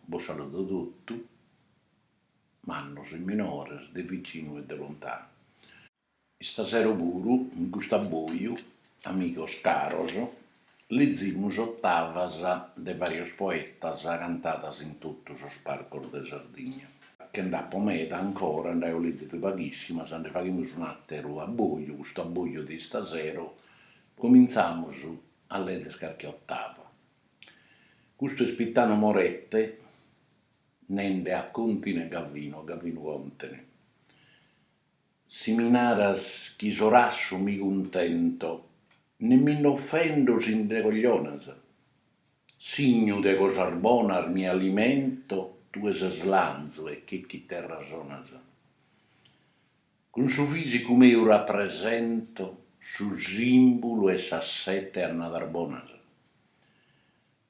Bos saludo totu, mannos e minores, de vicinu e de lontanu. Istasero puru in custu abboiu, amigos caros, lezimus ottavas de varios poetas cantadas in totu sos parcos de Sardigna. Che nd'apo meda ancora, nd'aio lezidu paghissimas, nde faghimus un'ateru abboiu, custu abboiu de istasero Comintzamus a lezer carchi otava. Custu est Pitano Morette nende a Contine Gavino, a Gavinu Contene. Si mi naras chi so rassu mi cuntento, ne mi nd'offendo si nde coglionas. Signu de cosas bonas mi alimento, tue ses lanzu e che chiterra sonas. Cun su fìsicu meu rapresento su sìmbulu 'e sas sete annadas bonas.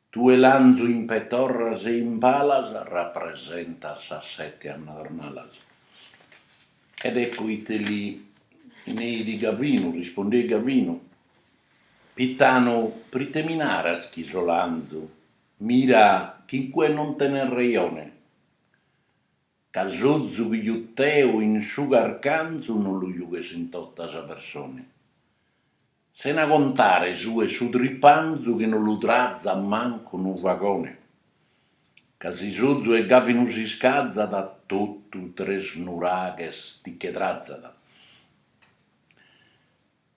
Tue lanzu in petorras e in palas rapresentas sas sete annadas malas. Ed ecco ite li neit Gavinu, rispondeit Gavinu, Pitanu, prite mi naras chi so lanzu? Mira chi in cue non tenes rejone. Ca s'ozu chi jut'eo in su carcanzu no lu jughes in tota sa persone, sena contare su 'e su tripanzu chi no lu trazat mancu unu fagone, ca si s'ozu 'e Gavinu s'iscazat totu Tresnuraghes ti che trazat.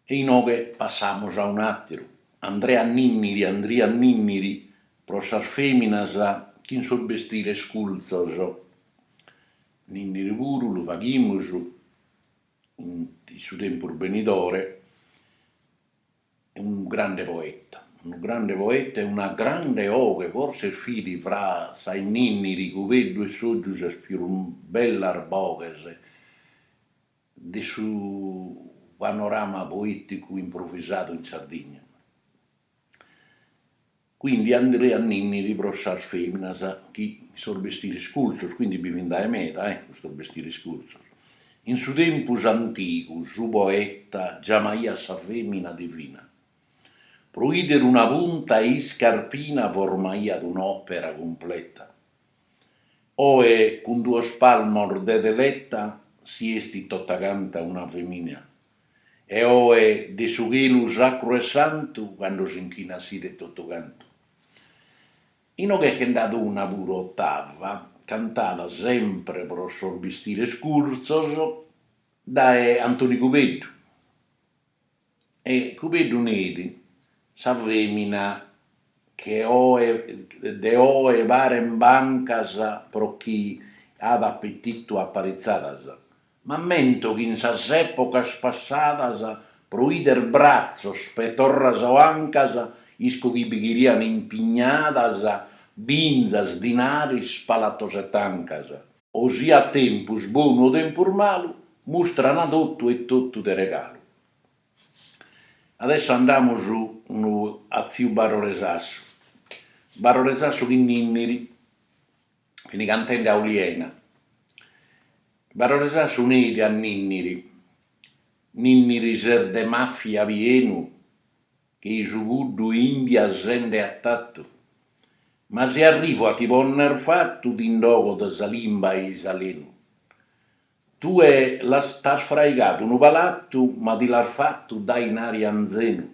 E inoghe passamus a un'àteru, Andrea Ninniri, Andria Ninniri, pro sas fèminas chin sos bestires curtzos. Ninniri puru lu faghimus in su tempus benidore, unu grande poeta, unu grande poeta e una grande 'oghe, forsis fit fra sa 'e Ninniri, Cubeddu e Sògiu sas pius bellas boghes. de su panorama poeticu improvisadu in Sardigna. Quindi Andria Ninniri pro sas feminas chin sos bestiris curtzos, quindi bi fin dae meda eh, custos bestiris curtzos. In su tempus antigu su poeta giamaiat sa femina divina. Pro idere una punta 'e iscarpina formaiat un'opera cumpleta. Oe cun duos palmos de teletta si estit totacanta una femina, e oe de su chelu sacru e santu cando s'inchinat s'idet totucantu. Inoghe che nd'at una puru ottava, cantada sempre pro sos bistires curtzos dae Antoni Cubeddu. E Cubeddu neit, Sa femina che oe de oe paren bancas pro chi at apetitu aparitzadas, m'ammento chi in sas epocas passadas pro 'ider bratzos petorras o ancas isco chi bi cherian impignadas binzas, dinaris, palatos e tancas. o siat tempus bonu o tempus malu, mustrana totu e totu de regalu. Adesso andamus unu a tziu Barore Sassu, Barore Sassu chin Ninniri, fin cantende a Oliena, Barore Sassu neit a Ninniri, Ninniri ses de mafia pienu, Che i su puddu 'e India sende attattu. Ma si arrivu a ti ponner fattu ti nd'ogo de sa limba e i s'alenu. Tue l'as t'as fraigadu unu palattu ma ti l'as fattu dae inari anzenu.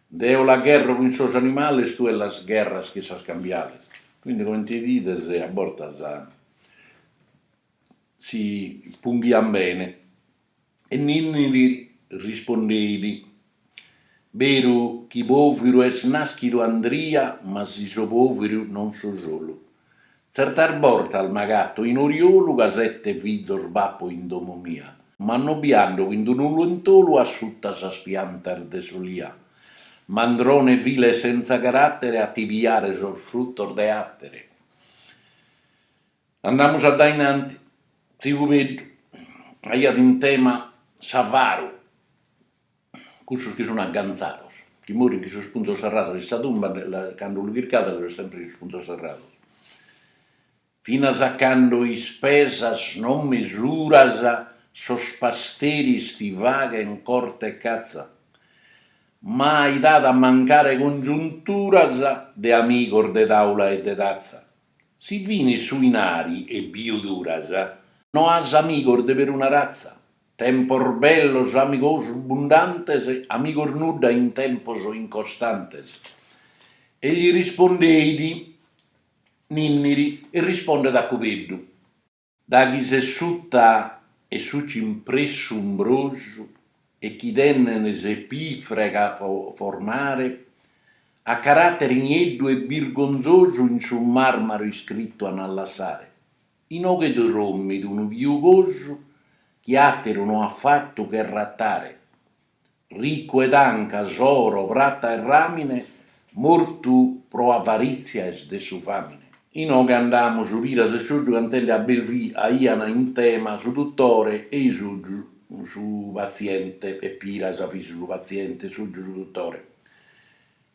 Deo la gherro chin sos animales tue las gherras chin sas cambiales. Quindi comente ides a bortas si punghian bene E Ninniri li rispondeit, Beru chi pòviru est nàschidu Andria, ma si so pòviru non so solu. Tzertas bortas m'agato in oriolu ca sete fizos b'apo in domo mia, ma no bi ando chin d'unu lentolu a suta sas piantas de s'olia. Mandrone vile e sentza carattere a ti piare sos frutos de àtere. Andamus addainanti, tziu Cubeddu aiat in tema s'avaru, cussos chi sun aganzados, chi morin chin sos punzos serrados in sa tumba, cando lu chircades lu est sempre chin sos punzos serrados, finas a cando ispesas non mesuras sos pasteris ti faghen corte e catza, mai t'at a mancare congiunturas de amigos de taula e de tazza, Si finis su inari e biu duras, no as amigos de peruna ratza, tempos bellos amigos bundantes, amigos nudda in tempos incostantes. E li rispondeit Ninniri e rispondet a Cubeddu. Da chi ses suta 'e su cimpressu umbrosu e chi t'enen s'epigrafe a formare, a carattere nieddu e birgonzosu in su marmaru iscrittu an a lassare, inoghe est drommidu unu piugosu chi atteru no at fattu che rattare. ricu 'e tancas, oro, prata e ramine, mortu pro avarìtzia est de su fàmine. Inoghe andamus, Piras e Sotgiu cantende a Belvì aian in tema su dutore e Sotgiu su patziente, e Piras fit su patziente e Sotgiu su dutore.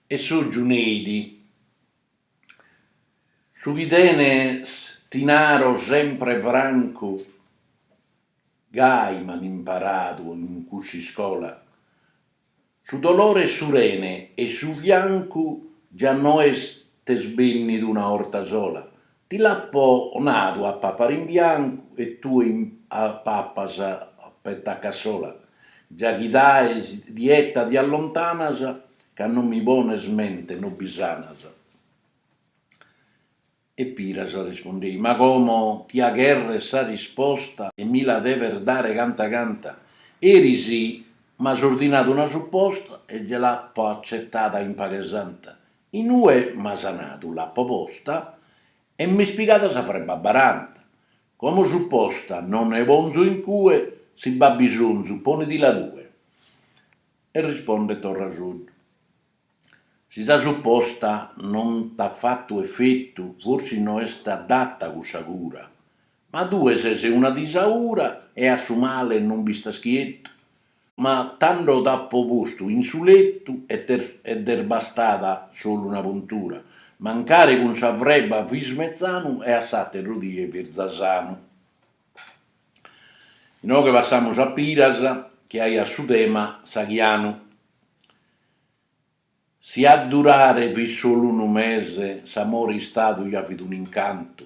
E Sotgiu neit, Su chi tenes ti naro sempre francu, Gai m'an imparadu in cuss'iscola Su dolore 'e su rene e su fiancu Già no est bènnidu una 'orta sola Ti l'apo nadu a papare in biancu E tue papas peta a cassola Già chi dae sa dieta ti allontanas Ca non mi pones mente no bi sanas E Piras rispondeit, Ma como tia cherrer sa risposta e mi la deves dare canta canta? Eris m'as ordinadu una supposta e gei l'apo accetada in paghe santa. In ue m'as nadu l'apo posta e m'est pigada sa frebba a baranta. Como supposta non ne ponzo in cue, si b'at bisonzu ponedila tue. E rispondet torra Sotgiu. Si sa supposta non t'at fatu efetu, forsis no est adata cussa cura, ma tue ses una disaura e a su male non b'istas chietu. Ma tando t'apo postu in su letu e e t'est bastada solu una puntura, mancari cun sa freba fis metzanu e a s'ateru die fis za sanu. Inoghe passamus a Piras chi aiat su tema s'aghianu. Si a durare fit solu unu mese s'amore istadu ja fit un'incantu,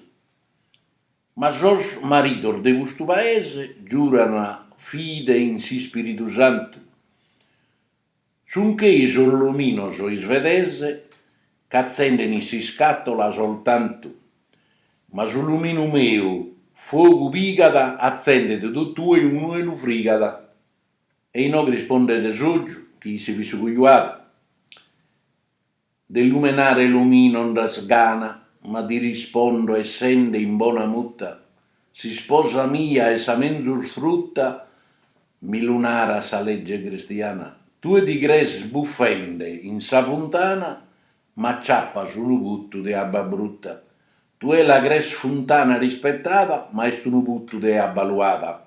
ma sos maridos de custu paese giuran fide in s'ispiridu santu, sun chei sos luminos isvedese ch'atzenden in s'iscatola soltantu, ma su luminu meu fogu pigat atzendet totue inue lu frigat. E inoghe rispondet Sotgiu chi si fit su cojuadu, De lumenare luminu nd'as gana, ma ti rispondo essende in bona mutta, S'isposa mia est sa menzus frutta, mi lu narat sa lege cristiana, Tue ti crees buffende in sa funtana, ma ciappas unu puttu de abba brutta, Tue la crees funtana rispettada, ma est unu puttu de abba luada.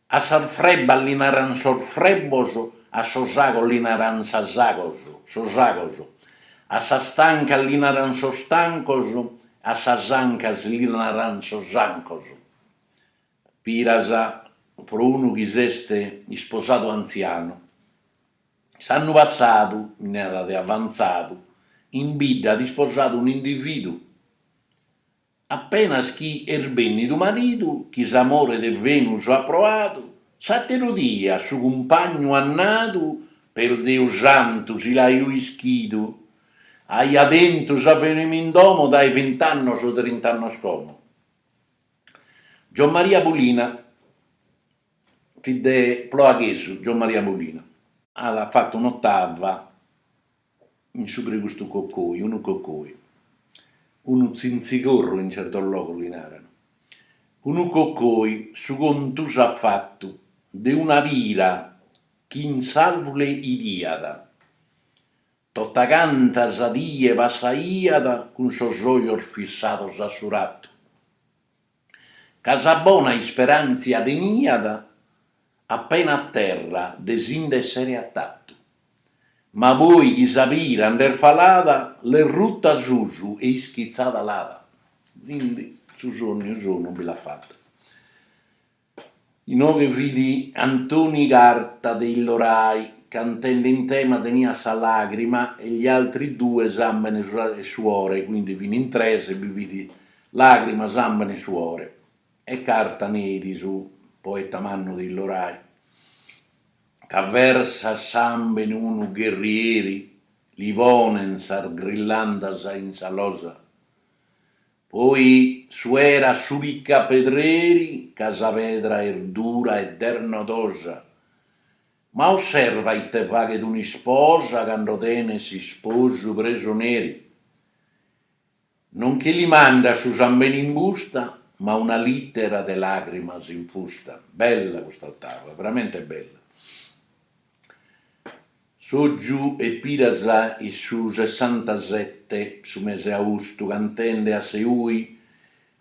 A sas frebbas li naran sos frebbos, a sos agos li naran sas agos, sos agos, a sas tancas li naran sos tancos, a sas ancas li naran sos ancos. Piras pro unu chi s'est isposadu antzianu. S'annu passadu, in edade avantzadu, in bidda at isposadu un'individu. Apenas chi est bennidu maridu, chi s'amore de Venus at proadu, s'ateru dia su cumpagnu at nadu, per Deus santu si l'aio ischidu, aia tentu sa fenima in domo dae vint'annos o trint'annos como. Giommaria Pulina fit ploaghesu, Giommaria Pulina. At fatu un'otava. in su pre custu cocoi, unu cocoi, unu tzintzigorru in certos logos li naran, unu cocoi, su contu s'at fatu de una pira chi in s'àrvule 'idiat, totacanta sa die passaiat cun sos ojos fissados a su ratu. Ca sa bona isperàntzia teniat apena a terra de si nd'èssere atatu. Ma poi chi sa pira nd'est falada, l'est ruta a susu e ischitzada l'at. Quindi su sonniu sonu bi l'at fatu. Inoghe fit Antoni Carta de Illorai, cantende in tema teniat sa làgrima e gli altri due sàmbene e suore, quindi fin in tres e bi fit làgrima, sàmbene e suore. E Carta neit, su poeta mannu de Illorai, ca versat sàmbene unu gherrieri, li ponen sas grillandas in sa losa, Poi suerat su picapedreri ca sa pedra est dura ed est nodosa, ma osserva ite faghet un'isposa cando tenet s'isposu presoneri, non chi li mandat su sambene in busta, ma una littera de lagrimas infusta. Bella custa ottava, veramente bella. Sotgiu e Piras in su sessantasette, su mese austu, cantende a Seui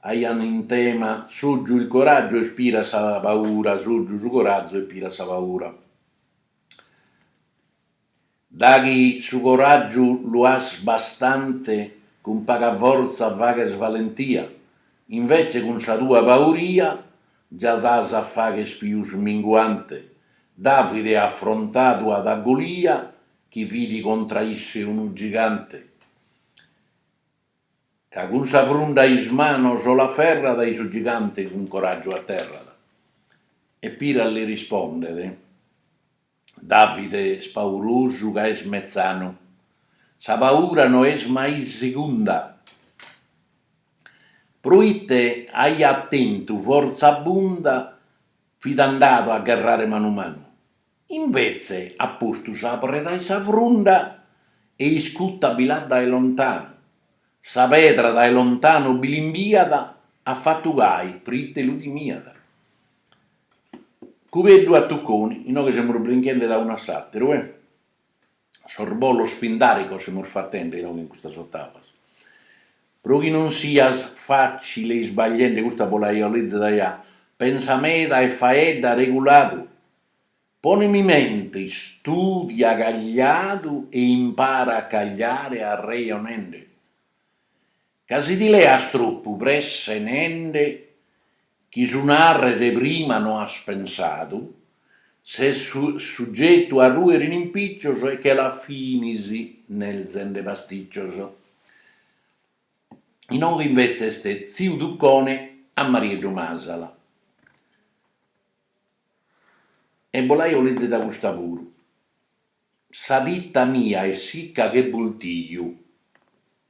aiant in tema Sotgiu il coraggio e Piras sa paura, Sotgiu su corazu e Piras sa paura. Daghi su coragiu lu as bastante cun paga forza faghes valentia, invece cun sa tua pauria Già das a faghes pius minguante, Davide afrontadu at a Golia, chi fit contra isse unu gigante, ca cun sa frunda in manos l'aferrat e su gigante cun coràgiu aterrat. E Piras li rispondet. Davide spaurosu ca est metzanu, sa paura no est mai segunda, proite aiat tentu fortza abunda fit andadu a gherrare manu manu, invetze at postu sa preda in sa frunda e iscuta bi l'at dae lontanu, sa pedra dae lontanu bi l'imbiat, at fatu gai proite lu timiat. Cubeddu a Tucconi, inoghe semus brinchende da unu a s'àteru e sos bolos pindàricos semus fatende inoghe in custas otavas, pro chi non siat fatzile isbagliende custa bos l'aio lèzida già, pensa meda e faedda reguladu, pone mi mente, istùdia cagliadu e impara a cagliare arrejonende. Ca si ti leas tropu presse nende chi su narrer prima no as pensadu, ses sugetu a ruer in impiccios e che la finis nerzende pasticcios. Inoghe invece est tziu Tuccone a Marieddu Masala. E bos l'aio lèzida custa puru. Sa tita mia est sicca che bultiju,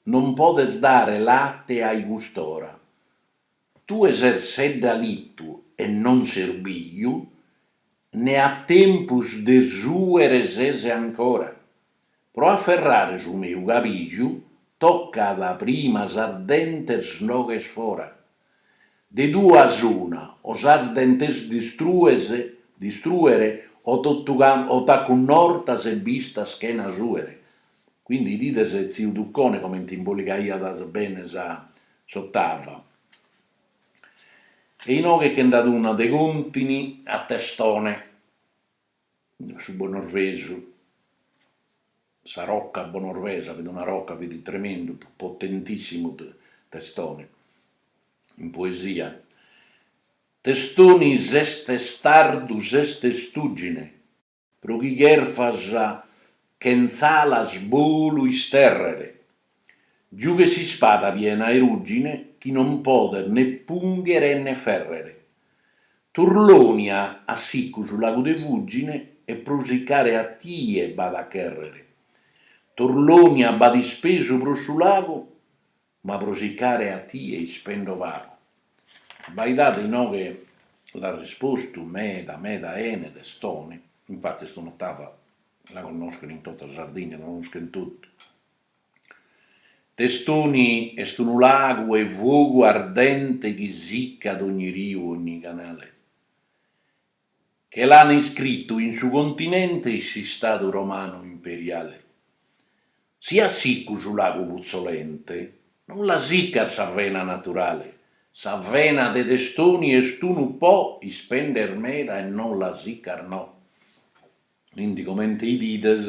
non podet dare latte ai cust'ora. Tue ses seddalitu e non ses biju, ne a tempus de suere ses ancora. Pro afferrare su meu cabiju toccat prima sas dentes nd'oghes fora. De duas una, o sas dentes distrues, distruere, o, o t'acunnortas e b'istas chena suere. Quindi idides tziu Tuccone comente imboligaiat bene sas ottavas. E inoghe che nd'at una de Contini a Testone. su bonorvesu, sa rocca bonorvesa fit una rocca, fit tremendu, potentissimu Testoni in poesia. Testoni ses testardu ses testùgine pro chi cherfas chentz'alas bolu isterrere Giughet s'ispada piena 'e ruggine chi non podet ne punghere e ne ferrere. Turlonia at sicu su lagu de Fugine e pro sicare a tie b'at a cherrere. Turlonia b'at ispesu pro su lagu ma pro sicare a tie ispendo pagu. Abbaidade inoghe l'at rispostu meda meda 'ene Testoni, infattis un'otava la connoschent in tota Sardigna, la connoschent totu Testoni est unu lagu 'e fogu ardente chi sicat ogni riu e ogni canale, che l'an iscritu in su continente in s'Istadu Romanu Imperiale. Si as sicu su lagu putzolente, non la sicas sa vena naturale, sa vena de Testoni est unu Po ispendes meda e non la sicas no. Quindi comente 'idides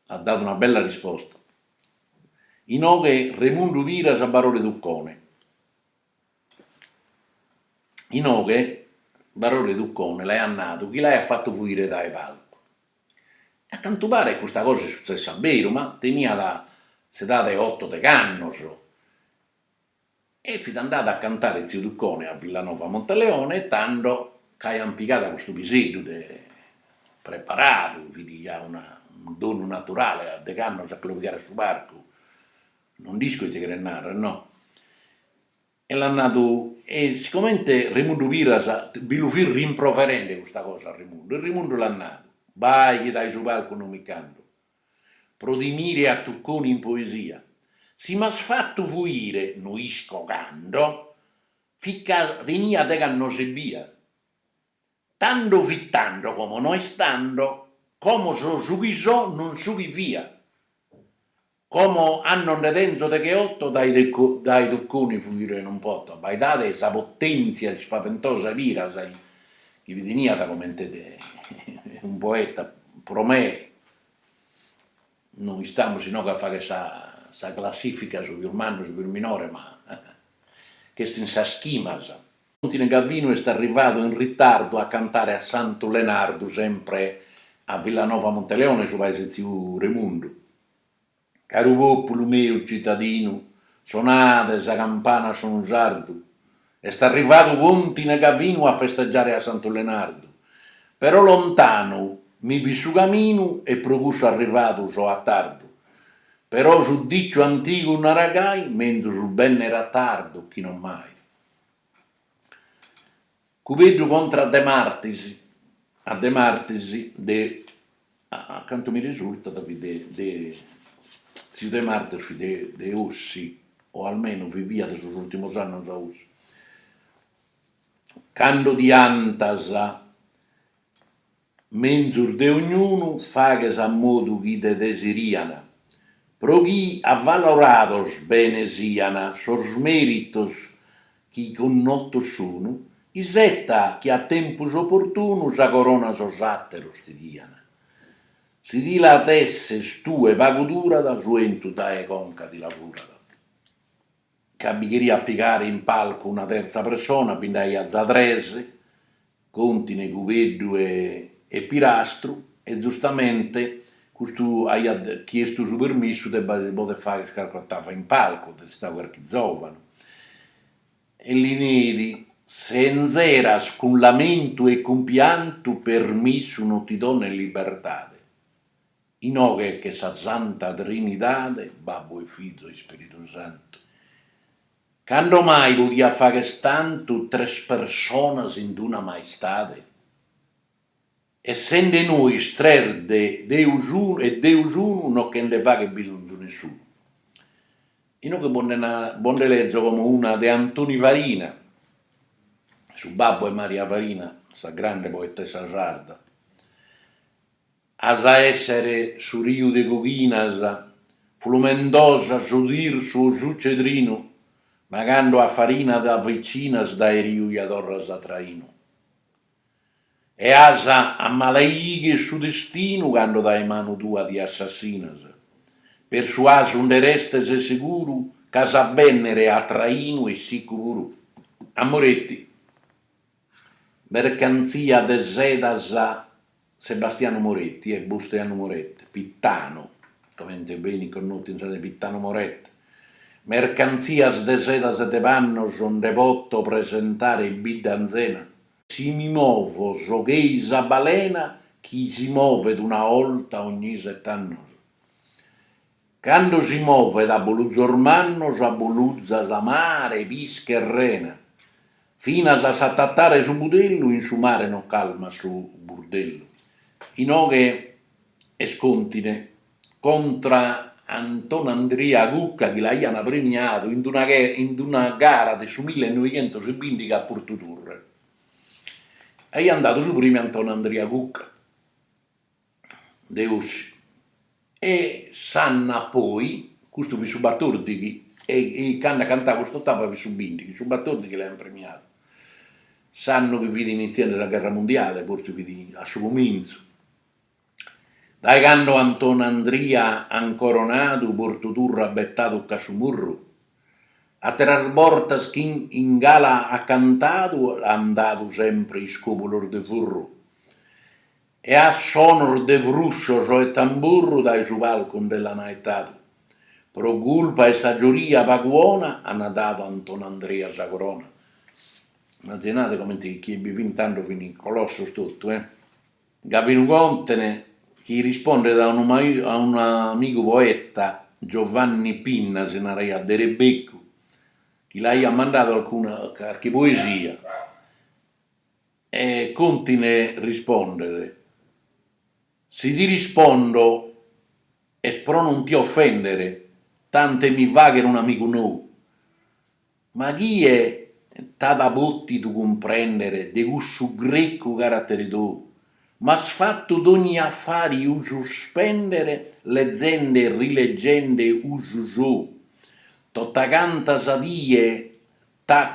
At dadu una bella risposta. Inoghe Remundu Piras a Barore Tuccone. Inoghe Barore Tuccone l'aiat nadu chi l'aiat fatu fuire dae palcu. E a cantu paret custa cosa est sutzessa a beru, ma teniat s'edade 'e otto degh'annos E fit andadu a cantare tziu Tuccone a Villanova Monteleone e tando ca aiant pigadu a custu piseddu de preparadu, fit già una unu donu naturale a deghe annos a cheloghiare a su parcu, non nd'isco ite cheret narrer no, e l'at nadu, e sigomente Remundu Piras bi lu fit rimproverende custa cosa a Remundu e Remundu l'at nadu, bai chi dae su palcu non mi ch'ando, pro timire a Tucconi in poesia, si m'as fatu fuire no isco cando, fit ca tenia degh'annos ebbia, tando fit tando como no est tando, como so su chi so non su chi fia, como annos nde tenzo degheotto dae dae Tucconi fuire non poto, abbaidade sa potenzia ispaventosa 'e Piras chi teniat comente unu poeta pro me no istamus inoghe a fagher sa sa classifica su pius mannu su pius minore ma ch'est in sas chimas. Contine Gavinu est arrivadu in ritardu a cantare a Santu Lenardu sempre a Villanova Monteleone su paese 'e tziu Remundu. Caru populu meu citadinu, sonade sa campana a sonu sardu, est arrivadu Contine Gavinu a festegiare a Santu Lenardu, però lontanu mi fit su caminu e pro cussu arrivadu so a tardu, però su diciu antigu narat gai, menzus bennere a tardu chi non mai. Cubeddu contra De Martis, a De Martis de, a cantu mi risurtat fit de de tziu De Martis fit de de Ossi, o almenu viviat sos urtimos annos a Ossi, cando ti 'antas Menzus de ognunu faghes a modu chi te desirian, pro chi avalorados bene sian sos meritos chi connotos sun, isetta chi a tempus oportunu sa corona sos ateros ti dian. Si ti la desses tue pagu durat su 'entu dae conca ti la furat. ca bi cheriat pigare in palcu una tertza pressona, bi nd'aiat za tres, Contine, Cubeddu e Pirastru, e zustamente custu aiat chiestu su permissu de b'aer poder fagher carchi ottava in palcu, at istadu carchi zovanu, e li neit, Sentz'iras cun lamentu e cun piantu permissu no ti dono in libertade, Inoghe che sa Santa Trinidade, Babbu e Fizu e Ispiritu Santu, cando mai podiat fagher tantu tres personas in d-una maistade? Essende nois tres de Deus unu e Deus unu no che nde faghet bisonzu nessunu. Inoghe bos nde na bos nde lezo como una de Antoni Farina, su babbu 'e Maria Farina, sa grande poetessa sarda. As a èssere su riu de coghinas flumendosa su tirsu o su cedrinu, ma cando a Farina ti avicinas dae riu ja torras a trainu. E as a malaighe su destinu cando dae manu tua ti assassinas, però s'asu nde restes seguru ch'as a bènnere a trainu e siccu puru. A Moretti. Mercantzia de sedas Sebastianu Moretti e Busteanu Moretti, Pittanu, comente benit connotu in sa de Pittanu Moretti, mercantzias de sedas e de pannos nde poto presentare bidda anzena? Si mi movo so chei sa balena chi si movet una 'olta ogni sete annos. Cando si movet, abuluzos mannos, abuluzat su mare, pische e rena, finas a s'atatare su budellu in su mare non calmat su burdellu, inoghe est contine contra Antonandria Cucca chi l'aian premiadu in d'una in d'una gara de su mille e noighentos e bìndighe a Portuturre. Aian dadu su prèmiu a Antonandria Cucca. de Ossi e s'annu poi, custu fit su batòrdighi e e candu at cantau cust'otava fit su bindighi, su batòrdighi l'aiant premiadu, s'annu chi fit initziende sa gherra mundiale, fortzis fit a su comintzu, dae candu Antoni Andria ant coronadu Portu Turre at betadu che a su murru, àteras bortas chi in gala at cantadu l'ant dadu sempre iscòbulos de furru e a sonos de fruscios e tamburru dae su palcu nde l'ana 'etadu, pro culpa 'e sa gioria pagu 'ona, ana dadu a Antoni Andria sa corona. Imaginade comente chi chie bi fin tando fin colossos totu e. Gavinu Contene chi rispondet a unu a unu amigu poeta, Giovanni Pinna si naraiat, de Rebeccu, chi l'aiat mandadu alcuna carchi poesia, E Contine rispondet. Si ti rispondo est pro non ti offender, tant'e mi fagher un'amigu nou. Ma chie t'at pòtidu cumprender de cussu grecu caratere tou? M'as fatu dogni afariu suspender lezende e rilegende usu sou. Tota canta sa die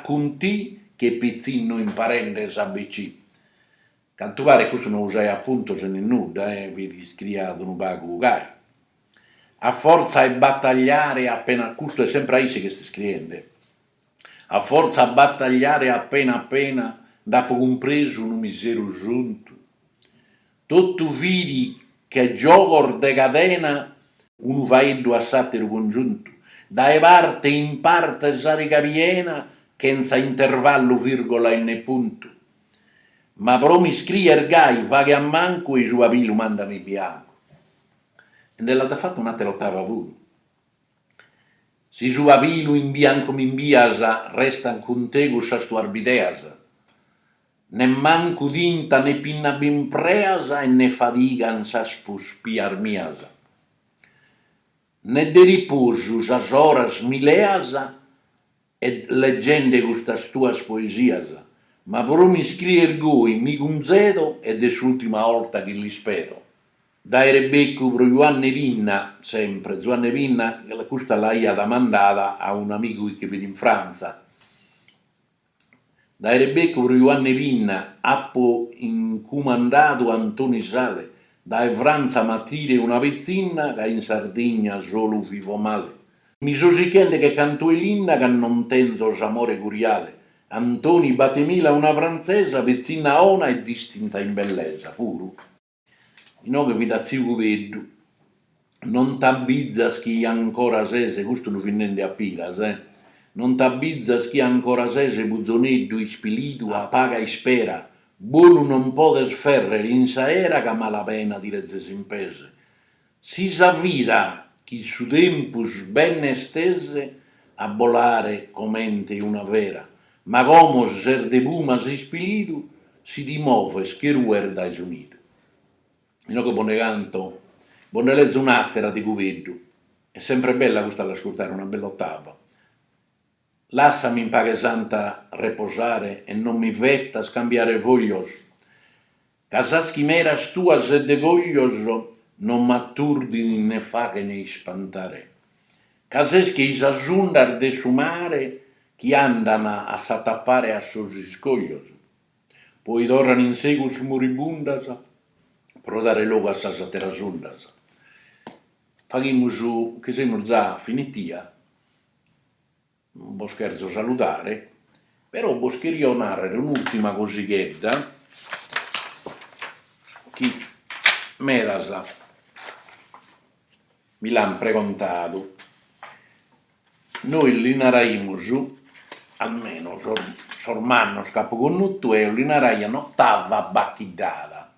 Cun ti che pitzinnu imparende s'ABC. Cantu paret custu no usaiat puntos nen nudda e fit iscriat unu pagu gai. A fortza 'e batagliare appena a custu est sempre a isse chi est iscriende. A fortza 'e batagliare appena appena nd'apo cumpresu unu miseru suntu. Totu fidi che giogos de cadena unu faeddu a s'àteru congiuntu, dae parte in parte sa riga piena chentza intervallu virgola e ne puntu, ma pro m'iscrier gai faghe a mancu e i su pabilu mandami biancu e nde l'at fatu un'àtera otava puru. Si su pabilu in biancu m'imbias restan cun te cussas tuas bideas Nemmancu tinta ne pinna b'impreas e ne fadigan sas puspias mias ne de riposu sas oras mi leas e leggende custas tuas poesias ma pro mi scrier goi mi cunzedo ed est s'ultima 'olta chi l'ispedo dae Rebeccu pro Juanne Pinna sempre Zuanne Pinna custa l'aiat mandada a un'amigu chi che fit in Frantza Dae Rebecu pro Juanne Pinna apo incumandadu Antoni Sale, dae Frantza m'atire una petzinna ca in Sardigna solu vivo male. Mi so sichende che cantu 'e linna ca non tenzo s'amore curiale, Antoni batemila una frantzesa petzinna 'ona e distinta in bellesa, puru. Inoghe fit tziu Cubeddu. Non t'abbizas chi ancora ses, custu lu fit nende a Piras, eh, non t'abbizas chi ancora ses puzoneddu ispilidu a paga ispera, bolu non podes ferrer in s'aera c'a mala pena ti rezes in pes. Si sa vida chi su tempus benner tes a bolare comente una fera, ma como ses de pumas ispilidu, si ti moves che rues dae su nidu. Inoghe bos nde canto, bos nde lezo un'àtera de Cubeddu, est sempre bella custa a l'ascurtare, una bella otava. Lassami in paghe santa reposare e non mi fetas cambiare foglios ca sas chimeras tuas e de coglios non m'aturdin ne faghen ispantare ca ses che i sas undas de su mare chi andan a s'atapare a sos iscoglios poi torran in segus muribundas pro dare logu a sas atteras undas faghimus che semus za finitia bos cherzo saludare, però bos cherio nàrrere un'ùrtima cosighedda chi medas mi l'ant pregontadu, nois li naraimus, almeno sos sos mannos chi apo connotu eo li naraian ottava bacchiddada,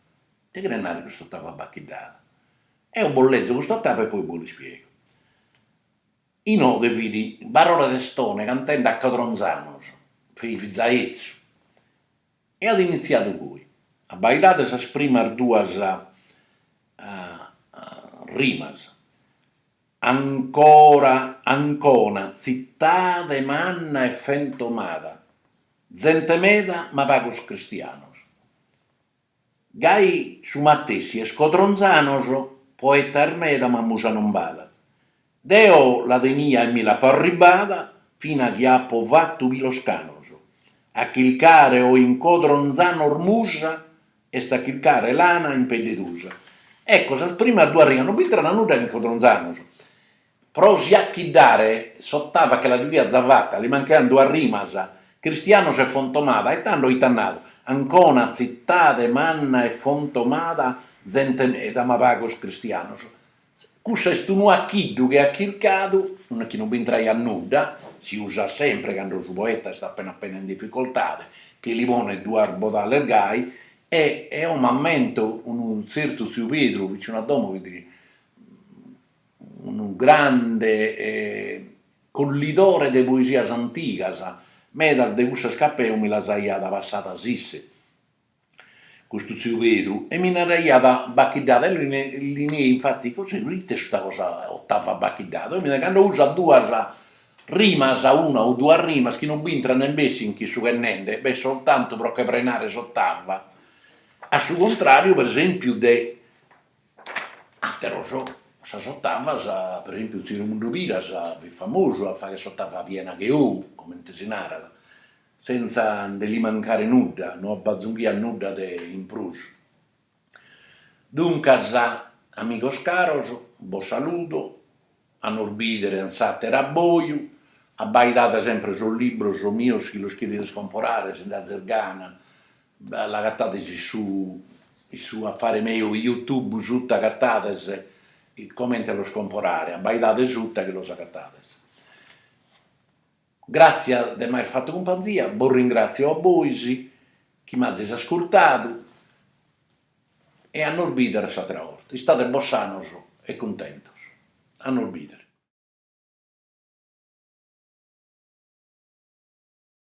ite cheret nàrrere custa ottava bacchiddada? Eo bos lezo custa ottava e poi bos l'ispiego Inoghe fit Barore Testone cantende a Codronzanos, fit za etzu e at initziadu goi, abbaidade sas primas duas rimas, Ancora Ancona tzitade manna e fentomada, zente meda ma pagos cristianos, Gai su matessi est Codronzanos, poetas meda ma musa non b'at. Deo la tenia e mi l'apo arribbada, fina chi apo fatu pilos canos. A chircare oi in Codronzanos musa est a chircare lana in pedde tusa. Ecco, sas primas duas rigas, non b'intrat nudda in Codronzanos. Pro si achiddare s'otava che la diviat za fata, li mancaian duas rimas, cristianos e fontomada, e tando ite at nadu, Ancona, tzitade manna e fontomada, zente meda ma pagos cristianos. Cussa est unu achiddu che at chircadu, chi non b'intraiat nudda, si usat sempre cando su poeta est appena appena in difficoltade, che li ponet duas bodales gai, e eo m'ammento unu tzertu tziu Pedru, vicinu a domo fit unu grande collidore de poesias antigas, medas de cussas chi ap'eu mi las aiat passadas isse, custu tziu Pedru, e mi naraiat Bacchiddata, eo li nei infati, così, ite est custa cosa Ottava Bacchiddata, oi mi naraiat, cando usat duas rimas, una o duas rimas chi non b'intrat nen bessit in cussu ch'est nende, b'est soltantu pro che prenare s'ottava, a su contràriu, per esempiu, de Atteros, sas ottavas, per esempiu tziu Remundu Piras fit famosu a fagher s'ottava piena che ou, comente si narat, senza nde li mancare nudda, no abbazunghiat nudda de in prus. Duncas, amigos caros, bos saludo, a nos bìdere in s'àteru abboju, abbaidade sempre sos libros mios si los cherides comporare, si nd'azis gana, l'agatades in su in su affare meu Youtube sutta agatades comente los comporare, abbaidade sutta chi los agatades. Gràtzias de m'aer fatu cumpanzia, bos ringràtziu a bois chi m'azis ascurtadu e a nos bìdere s'àtera 'orta. Istade bos sanos e cuntentos. A nos bìdere.